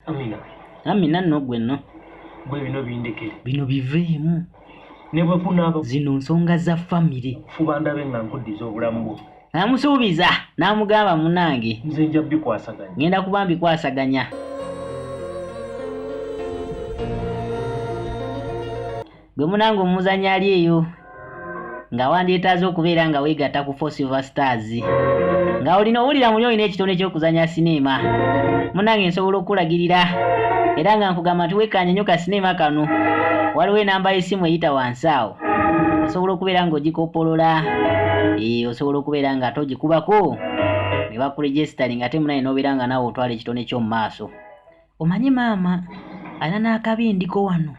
amina amina no gwe no gwe bino bindekere bino biveemu ne bwe kunaaba zino nsonga za famire fuba ndabe nga nkuddiza obulamu bwo namusuubiza namugamba munange nze nja bikwasaganya ngenda kuba mbikwasaganya Gwe munange omuzanya ali eyo nga wandyetaaze okubeera nga weegatta ku Four Silver Stars nga olina owulira muli olina ekitone ky'okuzanya sineema munange nsobola okukulagirira era nga nkugamba nti wekkaanye nnyo ka sineema kano waliwo enamba y'essimu eyita wansi awo osobola okubeera ng'ogikoppolola ee eh, osobola okubeera nga ate ogikubako ne bakuregisitali nga te munaye n'obeera nga naawe otwala ekitone ky'omu maaso omanyi maama alina n'akabindiko wano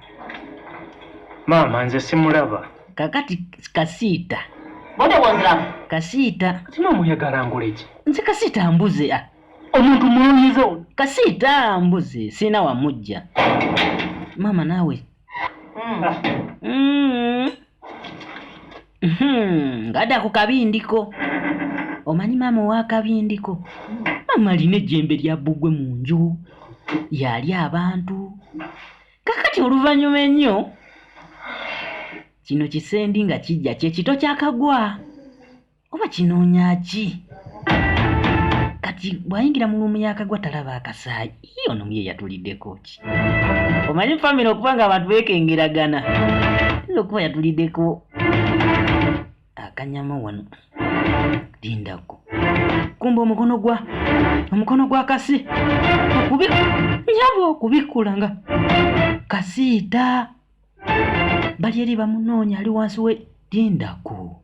maama nze simulaba kakati kasiita bona bwonziramu kasiita sima omuyagala nguleki nze kasiita mbuze a ah. omuntu mulunyiza ono kasiita mbuze sirina wamujja maama naawe mm. mm. Hmm, ngada ku kabindiko omanyi maama owakabindiko maama alina ejjembe lya bbugwe mu nju yali abantu kakati oluvannyuma ennyo kino kisendi nga kijja kyekito kyakagwa oba kinoonya ki kati bw'ayingira mu luumu yakagwa talaba akasaayi Iyo ono ye yatuliddeko ki? Omanyi famire okuba nga abantu beekengeragana nze okuba yatuliddeko akanyama wano lindako kumba omukono gwa omukono gwa kasi okubi nyabo okubikkula nga kasiita bali eri bamunoonya ali wansi we lindako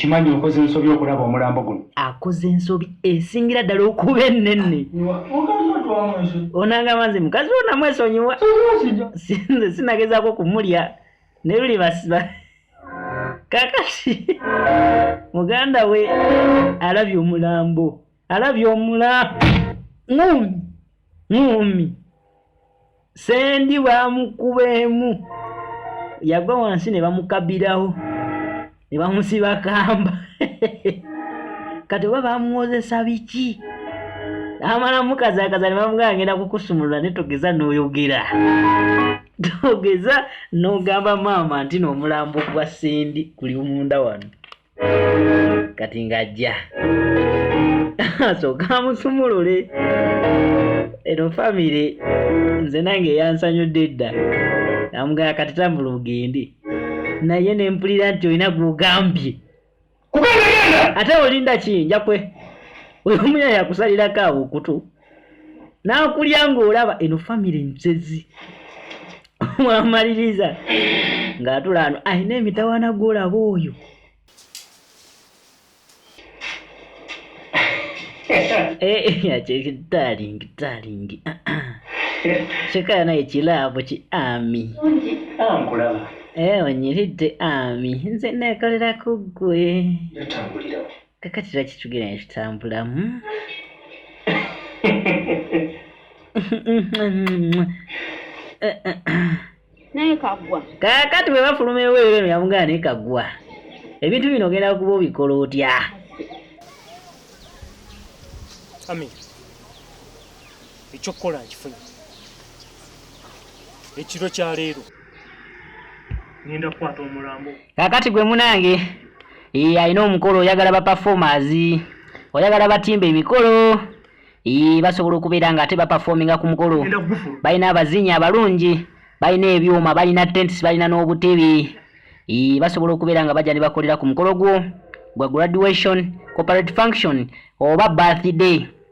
okimanyi okoze ensobi okulaba omulambo guno akoze ensobi esingira ddala okuba ennene onangamba nze mukazi wo namwesonyiwa sinze sinagezaako kumulya ne luli basiba kakati muganda we alabye omulambo alabye omula ngumi ngumi sendi bamukubeemu yagwa wansi ne bamukabirawo ne bamusiba kamba kati oba bamuwozesa biki amala mukazakaza ne bamuga agenda kukusumulula ne togeza n'oyogera togeza n'ogamba maama nti n'omulambo gwa sendi guli munda wano kati ng'ajja asooka amusumulule eno famire nze nange eyansanyudde edda namugaya kati tambula ogende naye ne mpulira nti olina gwogambye ate olinda ki njakwe oyo omuya yakusalirako awo okutu n'akulya ng'olaba eno famire nsezi mwamaliriza ng'atula ano alina emitawana gw'olaba oyo kyekitalingi talingi kikaya naye kilaabu ki ami onyiridde ami nze neekolera ku ggwe kakati lwaki tugera ne tutambulamu naye kagwa kakati bwe bafuluma eweero eno yamugana naye kagwa ebintu bino ogenda kuba obikola otya ami ekyokukola nkifunye ekiro kya leero ngenda kukwata omulambo kakati gwe munange ee alina omukolo oyagala ba performers oyagala batimba emikolo ee basobola okubeera nga ate baperforminga ku mukolo balina abazinyi abalungi balina ebyuma balina tents balina n'obutebe ee basobola okubeera nga bajja ne bakolera ku mukolo gwo gwa graduation corporate function oba birthday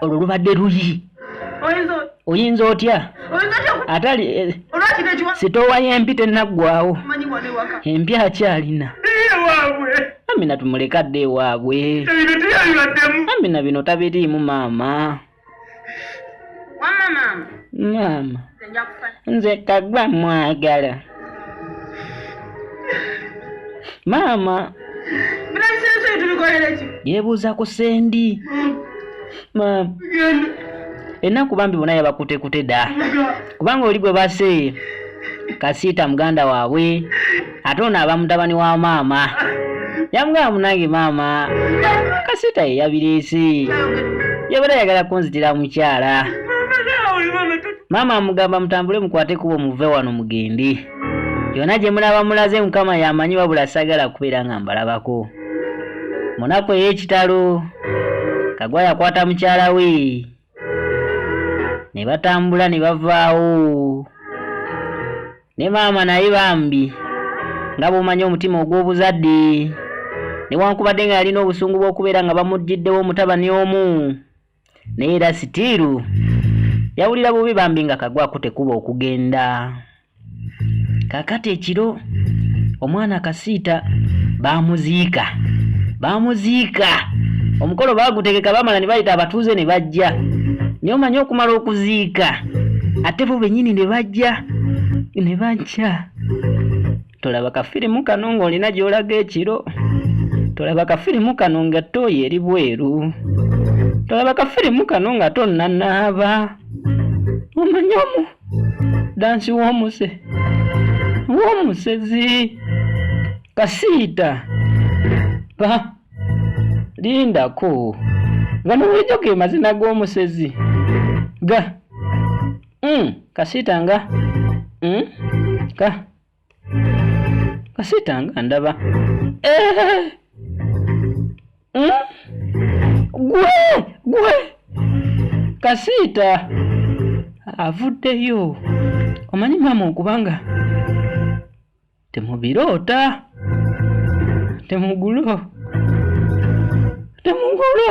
olwo lubadde luyi oyinza otya atali eh, sitoowa y'empi tennaggwawo empi akyalina amina tumulekadde ewaabwe amina bino tabiriimu maama maama nze kagwa mwagala maama yebuuza ku sendi maama enaku bambi bona yabakutekute da kubanga oli gwe baseeye kasiita muganda waabwe ate ono aba mutabani wa maama yamugamba munange maama kasita ye yabireese yabadde ayagala kunzitira mukyala maama amugamba mutambule mukwate kubo muve wano mugende yona gye mulaba mulaze mukama yamanyi wabula sagala kubeera nga mbalabako munaku ey'ekitalo kagwa yakwata mukyala we ne batambula ne bavaawo ne maama naye bambi nga bw'omanyi omutima ogw'obuzadde newankubadde nga yalina obusungu bw'okubeera nga bamuggyiddewo omutabani omu naye era sitiiru yawulira bubi bambi nga kagwako tekuba okugenda kakati ekiro omwana kasiita baamuziika baamuziika omukolo baagutegeka baamala ne bayita abatuuze ne bajja naye omanyi okumala okuziika ate bo bennyini ne bajja ne bajja tolaba kafirimu kano ng'olina gy'olaga ekiro tolaba kafirimu kano nga ttooyi eri bweru tolaba kafirimu kano nga tonnanaaba omanyi omu dansi w'omuse w'omusezi kasiita pa lindako gano bulijjo ge mazina g'omusezi ga mm, kasiita nga mm, ka kasiita nga ndaba eh! hmm? gwe gwe kasiita avuddeyo omanyi maama okubanga temubiroota temugulo temugulo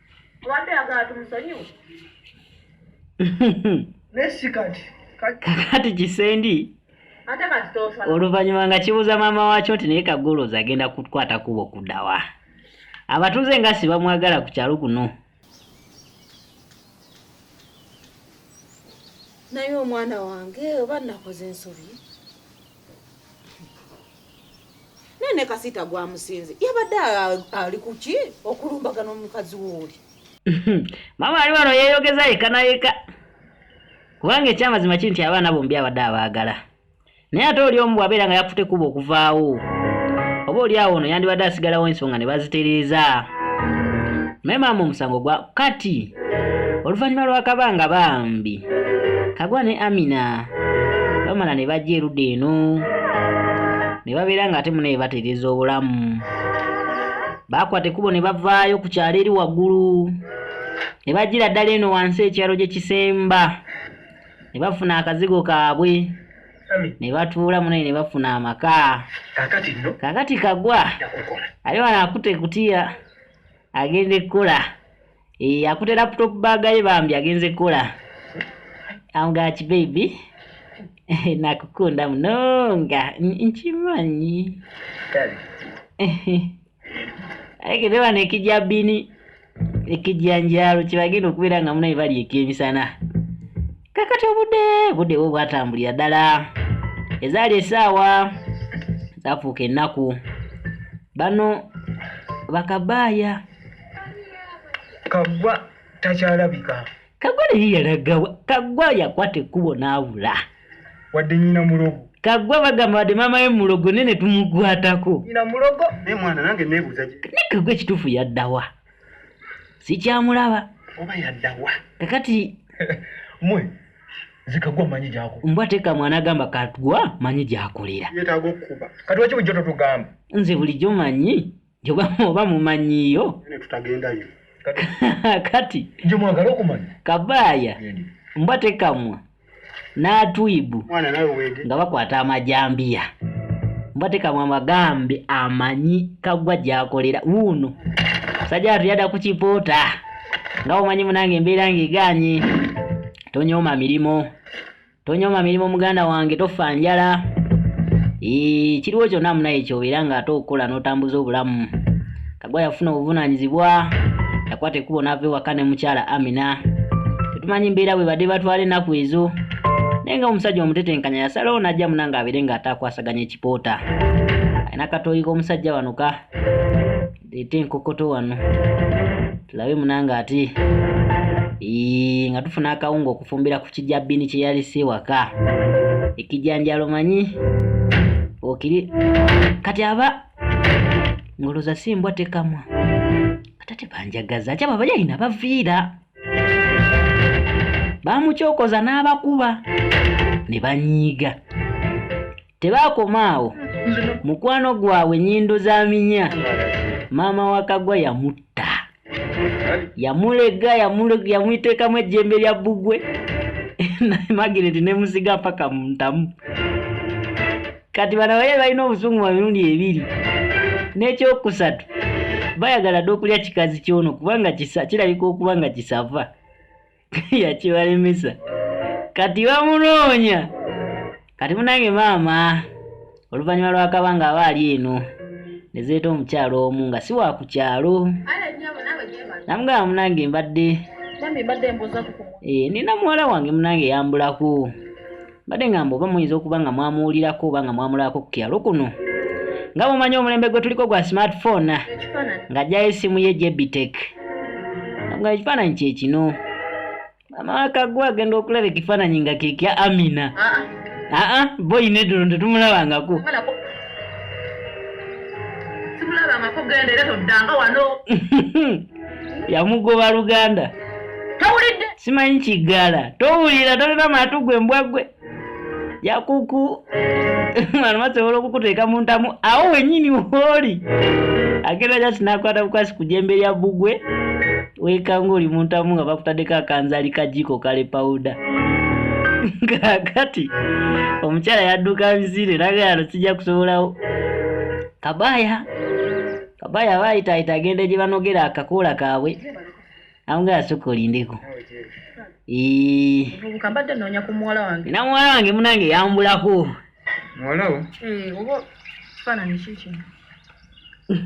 Wabadde agala tumusonyiwe. Nesi kati. Kakati kisendi. Ate kati tofa. Oluvannyuma nga kibuuza maama waakyo nti naye kagoloozi agenda kukwata kubo kudawa. Abatuuze nga si bamwagala ku kyalo kuno. Naye omwana wange oba nakoze ensobi. naye ne kasiita gwamusinze yabadde ali kuki okulumbagana omukazi wooli maama ali wano yeeyogeza yeka nayeka kubanga ekyamazima kiri nti abaana bombi abadde abaagala naye ate oli omu bwabeera nga yakufute kuba okuvaawo oba oli awo ono yandibadde asigalawo ensonga ne bazitereeza naye maama omusango gwa kati oluvannyuma lw'akabanga bambi kagwa ne amina bamala ne bajja erudda eno ne babeera nga ate munaye batereeza obulamu baakwata ekkubo ne bavaayo ku kyalo eri waggulu ne bajjira ddala eno wansi ekyalo gye kisemba ne bafuna akazigo kaabwe ne batuula munaye ne bafuna amaka kakati kagwa ali wano akute kutiya agenda ekkola Eh, akute laptop bag ye bambi agenze kola. I'm got you baby. Nakukunda mnonga. Nchimanyi. Kali. Aike dewa nekija bini. Ekija njalo kibagino kubira nga muna ibali ekemi sana. Kakati obude bude wo bwatambulira dala. Ezali esawa. Zafuke naku. Bano bakabaya. kagwa takyalabika kagwa naye yalagawa kagwa yakwata ekkubo n'abula wadde nyina mulogo kagwa bagamba wadde maama we mulogo naye ne tumukwatako nyina mulogo naye mwana nange neebuuza ki naye kagwa ekituufu yaddawa sikyamulaba oba yaddawa kakati mwe zikagwa manyi gyako mbwa teeka mwana agamba katgwa manyi gyakolera yetaaga okukuba kati waki bujjo totugamba nze bulijjo manyi Njoba oba mumanyiyo. Nene tutagendayo. Kati. Njo mwagala okumanya. Kabaya. Nene. Mbwa tekamwa. N'atwibu. Mwana nawe wege. Nga bakwata amajambiya. Mbwa tekamwa amagambi amanyi kagwa gyakolera wuuno. Sajja atuyada ku kipoota. Nga omanyi munange embeera ng'egaanye. Tonyooma mirimu. Tonyoma mirimu muganda wange tofa njala. Ee kiriwo kyonna munaye kyobeera ng'ate okukola n'otambuza obulamu. Kagwa yafuna obuvunaanyizibwa yakwata ekkubo n'ava ewaka ne mukyala Amina. Tetumanyi mbeera bwe badde batwala ennaku ezo. Naye nga omusajja omutetenkanya yasalawo n'ajja muna ng'abeere ng'ate akwasaganya ekipoota. Alina akatooyi k'omusajja wano ka. leeta enkokoto wano tulabe munange ati nga tufuna akawunga okufumbira ku kijabini kye yalisi ewaka ekijanjalo manyi okiri kati aba ngoloza si mbwa tekamwa kata tebanjagaza ati abo abalyalina baviira bamukyokoza n'abakuba ne banyiiga Tebaakoma awo, mukwano gwabwe nnyindo za minya, maama wa Kagwa yamutta. Yamulega, yamuteekamu ejjembe lya bbugwe, Magireti ne musiga mpaka mu ntamu. Kati bano abaye balina obusungu bwa mirundi ebiri. N'ekyokusatu, bayagala dda okulya kikazi ky'ono kubanga kirabika okuba nga kisava. yakibalemesa kati bamunoonya kati munange maama oluvannyuma lwakaba nga aba ali eno ne zeeta omukyalo omu nga si wa ku kyalo namugamba munange mbadde eh, nina muwala wange munange yambulako mbadde ngamba oba muyinza okuba nga mwamuwulirako oba nga mwamulaako ku kyalo kuno nga mumanyi omulembe gwe tuliko gwa smartphone nga ajjayo essimu ye jebitek nga ekifaananyi kye kino amawaka gwe agenda okulaba ekifaananyi nga kekya amina aa ah, ah. ah, boyi nedulo tetumulabangako yamugoba luganda tawulidde simanyi kiggala towulira tolina maatu gwe mbwa gwe yakuku mwana masobola okukuteeka mu ntamu awo wenyini wooli agenda jasi nakwata bukwasi ku jembe lya bbugwe weekanga oli mu ntamu nga bakutaddeko akanzali kajiiko kale pawuda kakati omukyala yadduka bizire nagayano sijja kusobolawo kabaya Oba yaba ayitaayita agenda gye banogera akakoola kaabwe amuga yasooka olindeko namuwala wange munange yambulako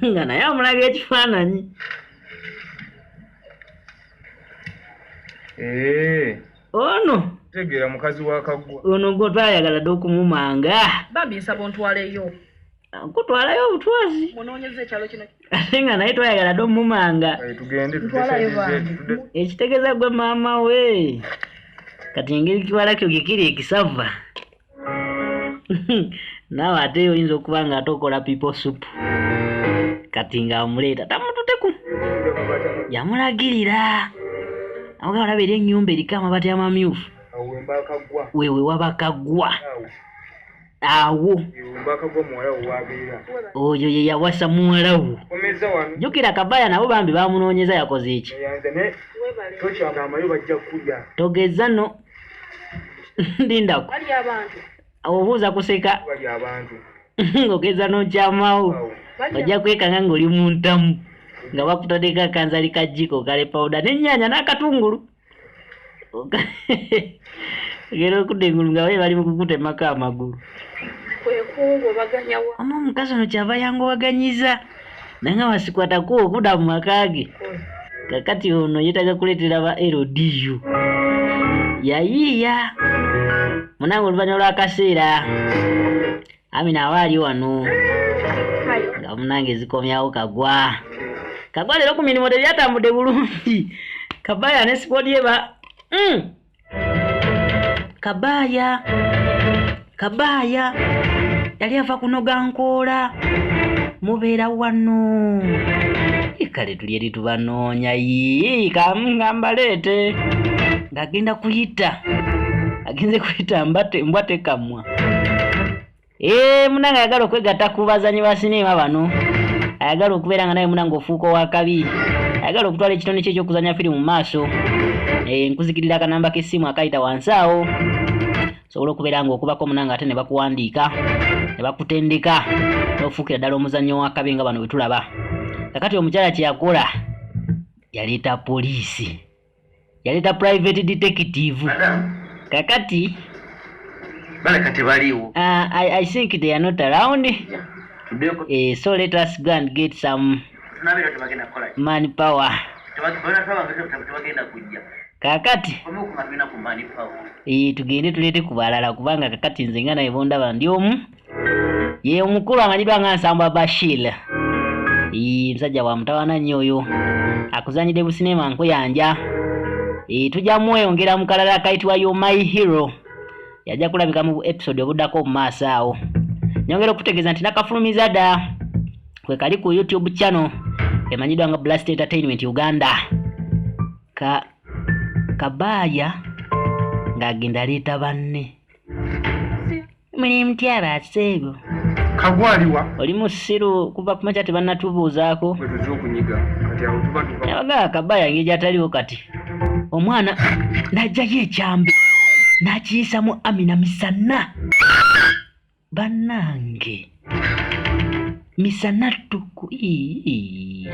nga naye amulaga ekifaananyi eh. ono tegeera mukazi wakaggwa ono gwe twayagala dde okumumanga bambi nsaba ontwaleyo nkutwalayo obutwazi ate nga naye twayagala dde omumanga ekitegeeza gwe maama we kati engeri kiwalakyo kikiri ekisava naawe ate oyinza okuba nga ate okola pipo sup kati nga amuleeta tamututeku yamulagirira awoga olaba eri ennyumba eriko amabati amamyufu wewe wabakaggwa awo oyo ye yawasa muwala wo jjukira kabaya nabo bambi bamunoonyeza yakoze eki togeza no ndindako obuuza kuseka ng'ogeza n'okyamawo ojja kwekanga ng'oli mu ntamu nga bakutadeko akanzali kajjiko kale pawuda n'ennyanya n'akatungulu ogera okudda engulu nga baye bali mu kukutemako amagulu omu omukazi ono kyava yangobaganyiza nanga wasikwatako okuda mu maka ge kakati ono yetaga kuleetera ba ldu yayiiya munange oluvanyuma lwakaseera Amina awa ali wano nga munange zikomyawo kagwa kagwa leero ku mirimu tebyatambudde bulungi kabaya ne sikodi eba mm. kabaya kabaya yali ava kunoga nkoola mubeera wano kale tuli eri tubanoonya yii kamngambaleete ng'agenda kuyita agenze kuyita mbwa tekamwa Eee eh, munanga ayagala okwegatta ku bazanyi ba sineema bano ayagala okubeera nga nawe munanga ofuuka owakabi ayagala okutwala ekitone kyo ekyokuzanya firimu mu maaso eh, nkuzikirira akanamba k'essimu akayita wansi awo osobola okubeera nga okubako munanga ate ne bakuwandiika ne bakutendeka n'ofuukira ddala omuzannyo wakabi nga bano bwe tulaba kakati omukyala kye yakola yaleeta poliisi yaleta private detective kakati baleka tebaliwo uh, I, i think they are not around yeah. eh, so let us go and get some man power kakati eh, tugende tulete kubalala kubanga kakati nze nga naye bondaba ndi omu ye omukulu amanyidwa nga nsambwa bashil musajja wa mutawana nnyo oyo akuzanyidde busineema nkuyanja tujja mweyongera mu kalala akayitibwa yo my hero yajja kulabika mu episode obuddako mu maaso awo nyongera okutegeeza nti nakafulumiza dda kwe kali ku youtube channel emanyiddwa nga blast entertainment uganda ka kabaaya ng'agenda aleeta banne Muli mutya ba Sseego? Kagwaliwa. Oli musiru kuva ku makya tebannatubuuzaako. Bwe tuze okunyiga kati awo tuba tuva. Yabaga kabaya ngeri gy'ataliwo kati. Omwana n'aggyayo ekyambe n'akiyisa mu Amina misana. Bannange misana ttuku. Ii.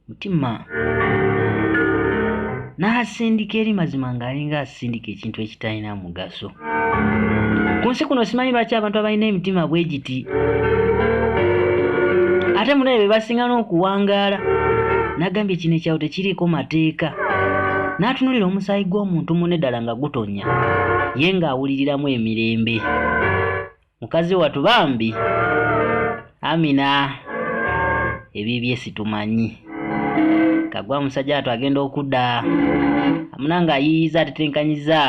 mutima n'asindika eri mazima ng'alinga asindika ekintu ekitalina mugaso ku nsi kuno simanyi lwaki abantu abalina emitima bwe giti ate munaye be basinga n'okuwangaala n'agambye kino ekyawo tekiriiko mateeka n'atunulira omusaayi gw'omuntu mune ddala nga gutonya ye ng'awuliriramu emirembe mukazi watu bambi amina ebibye situmanyi kagwa musajja watu agenda okuda amuna nga ayiyiza atetenkanyiza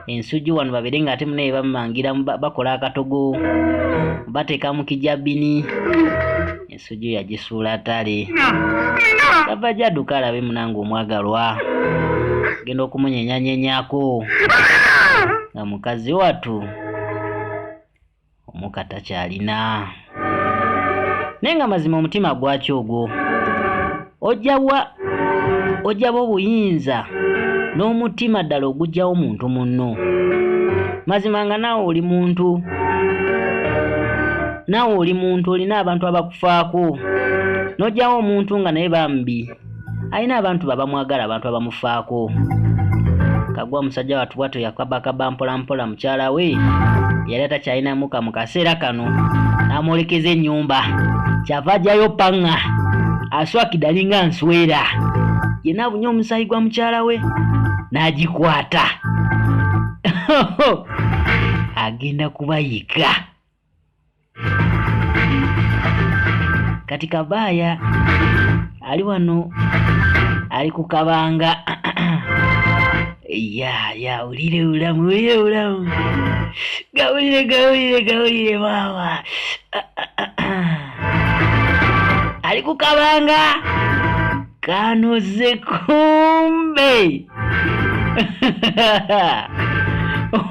ensuji wano babere nga ate munaye bamumangira bakola akatogo bateka mukijabini suju yagisuula tali gava gyaduka alabe munange omwagalwa genda okumunyenyanyenyako nga mukazi watu omuka takyalina naye nga mazima omutima gwaki ogwo ojawa ojaba obuyinza n'omutima ddala ogujjawo muntu munno mazima nga naawe oli muntu naawe oli muntu olina abantu abakufaako n'ojawo omuntu nga naye bambi alina abantu babamwagala abantu abamufaako kagwa musajja watu bwatyo yakabakaba mpolampola mukyala we yali atakyalinamu ka mu kaseera kano n'amwolekeza ennyumba kyava ajjayo paŋŋa aswakidde alinga nswera yena abunye omusaayi gwa mukyala we n'agikwata agenda kubayika kati kabaaya ali wano ali ku kabanga ya ya ulire ulamu ulire ulamu gawulire gawulire gawulire maama ali ku kabanga kanoze kumbe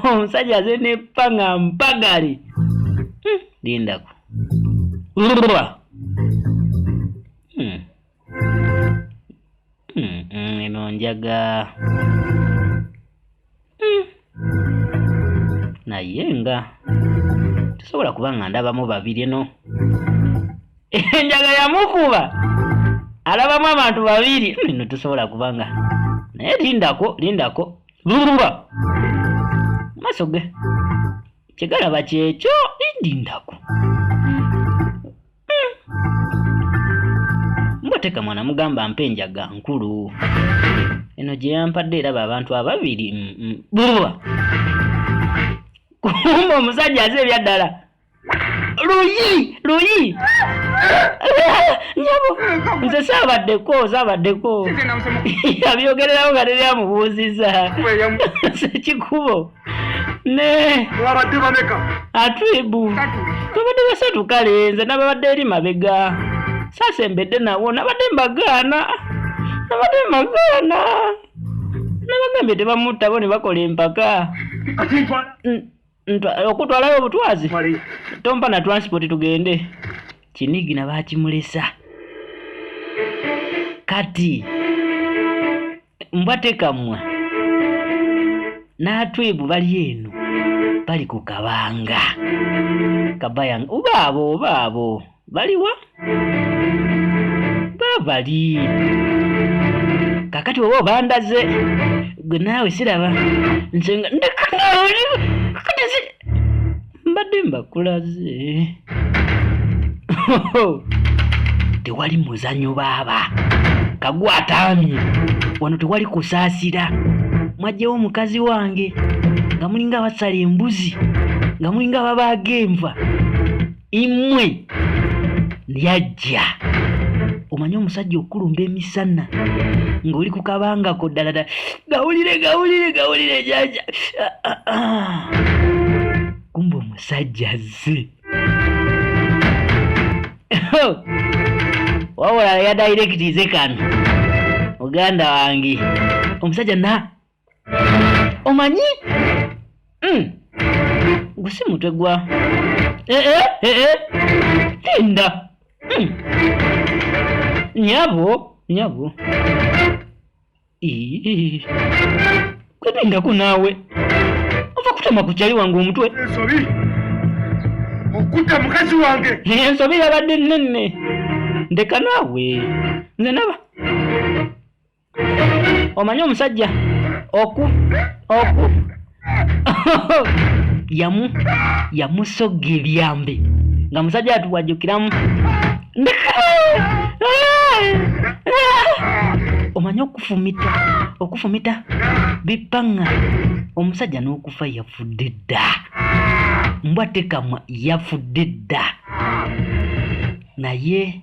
omusajja aze ne panga mpagale hmm, lindako hmm. hmm, eno njaga naye nga tesobola kuba nga ndabamu babiri no enjaga yamukuba alabamu abantu babiri ino tesobola kuba nga naye lindako lindako Lulululwa. Maso ge. Kigalaba kyekyo indi ndaku. Hmm. Mboteka mwana mugamba mpe enjaga nkulu. Eno gye yampadde eraba abantu ababiri. Lululwa. Hmm, hmm. Kumba omusajja aze ebyaddala. luyi luyi nyabo nze saabaddeko saabaddeko abyogererawo nga teri amubuuziza sekikubo ne wabadde bameka atwibu twabadde basatu kale nze nababadde eri mabega sasembedde nawo nabadde mbagaana nabadde mbagaana nabagambye tebamutta bo ne bakola empaka okutwalayo obutwazi tompa na transport tugende kinigina bakimulesa kati mbwatekamwa n'atwebu bali eno bali ku kabanga kabayanga oba abo oba abo baliwa babali kakati oba obandaze gwe naawe siraba nze nga ndekanaoli kati mbadde mbakulaze tewali muzanyo baaba kagwa ataamye wano tewali kusaasira mwajjewo omukazi wange nga mulinga abasala embuzi nga mulinga babaaga enva imwe lyajja omanyi omusajja okukulumba emisana ng'oli ku kabangako ddala ddala gawulire gawulire gawulire jaja ah, ah, ah. kumba omusajja azze wabula yadayirekitize kano muganda wange omusajja na omanyi mm. gusi mutwe gwa ee eh, ee eh, eh, tinda mm. nyabo nyabo kwepindako naawe ova kutama ku kyali wange omutwe ensobi okutta mukazi wange ensobi yabadde nnenne ndeka naawe nze naba omanyi omusajja oku oku yamu yamusogga ebyambe nga musajja atuwajukiramu omanyi okufumita okufumita bipaŋŋa omusajja n'okufa yafudde dda mbwa tekamwa yafudde dda naye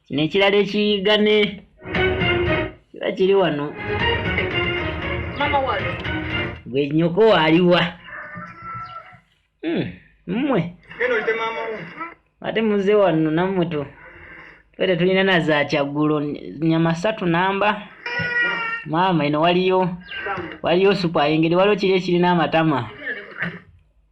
nekirala ekiyigane kiba kiri wano gwe nyoko waliwa hmm, mmwe ate muze wano nammwe tu fe tetulina na za kyaggulo nyama satu namba maama ino waliyo waliyo supu ayengeri waliwo kiri ekirina amatama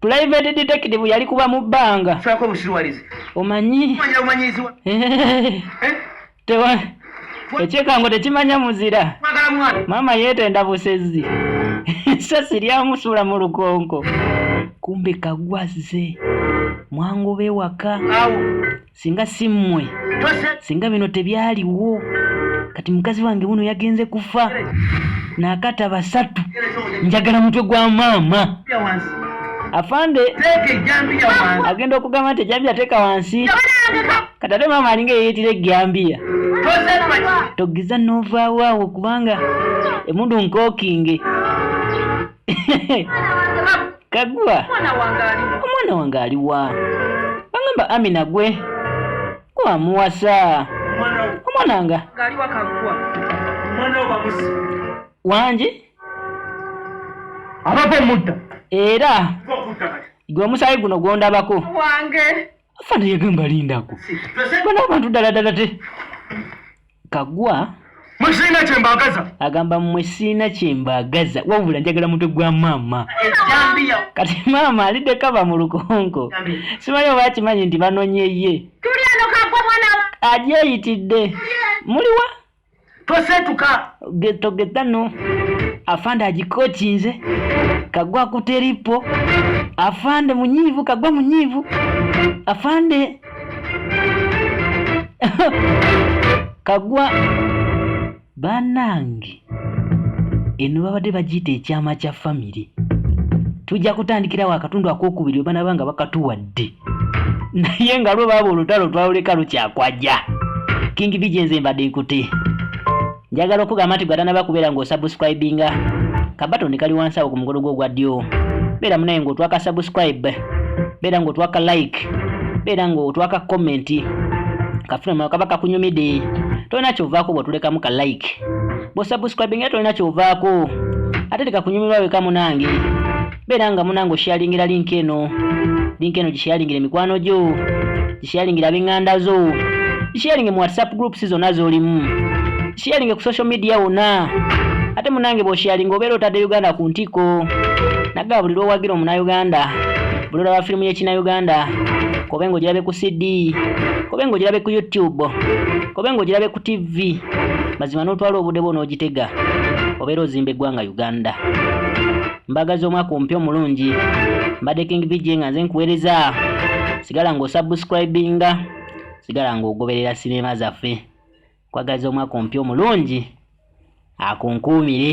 Private detective yali kuba mu banga. Sako mushiwalize. Omanyi. Omanyi omanyi ziwa. Eh. Tewa. Echeka ngo tekimanya muzira. Magala mwana. Mama yete ndabusezi. Sasa lya musula mu lukonko. Kumbe kagwaze. Mwangu be waka. Awo. singa si mmwe singa bino tebyaliwo kati mukazi wange wuno yagenze kufa nakata basatu njagala mutwe gwa maama afande agenda okugamba nti ejambiya teeka wansi kati ate maama alinga eyeyitira ejambiya togiza novaawo awo kubanga emundu nkookinge kagwa omwana wange aliwa bagamba amina gwe gwamuwasa omwana nga wangi abava omudda era gwe omusaayi guno gwondabako afana yagamba lindako bana abantu ddala ddala te kagwa mwe sirina kyembagaza agamba mwe sirina kyembagaza wabula njagala mutwe gwa maama kati maama alidde kava mu lukonko simanyi oba akimanyi nti banonye ye agyeyitidde muliwa tosetuka getogedano afande agikokinze kagwa kuteripo afande munyivu kagwa munyivu afande kagwa banange eno babadde bagiyita ekyama kya famire tujja kutandikirawo akatundu akokubiri webanaba nga bakatuwadde naye nga lwe baaba olutalo twaluleka lukyakwaja king bije nze mbadde nkuti njagala okugamba nti gwatanaba kubeera ng'osubscribinga kabatoni kali wansi awo ku mukono gwo ogwa ddyo beera munaye ng'otwaka subscribe beera ng'otwaka like beera ng'otwaka comment kafuna mwana kaba kakunyumide tolina kyovaako bw'otulekamu ka like bw'osubscribinga tolina kyovaako ate tekakunyumirwa weka munange beera nga munange osharingira link eno link eno gisharingira emikwano gyo gisharingira ab'eŋŋanda zo gisharinge mu whatsapp groups zonna z'olimu gisharinge ku social media wonna ate munange bw'osharinga obeera otadde uganda ku ntikko nagaa buli lw'owagira omunauganda buli olaba firimu y'ekinauganda kobe ng'ogirabe ku cd kobe ng'ogirabe ku youtube kobe ng'ogirabe ku tv mazima n'otwala obudde bwo n'ogitega obeera ozimba eggwanga uganda mbagaza omwaka omupya omulungi mbadde king bj nga nze nkuweereza sigala ng'osubscribinga sigala ng'ogoberera sineema zaffe kwagaza omwaka omupya omulungi akunkuumire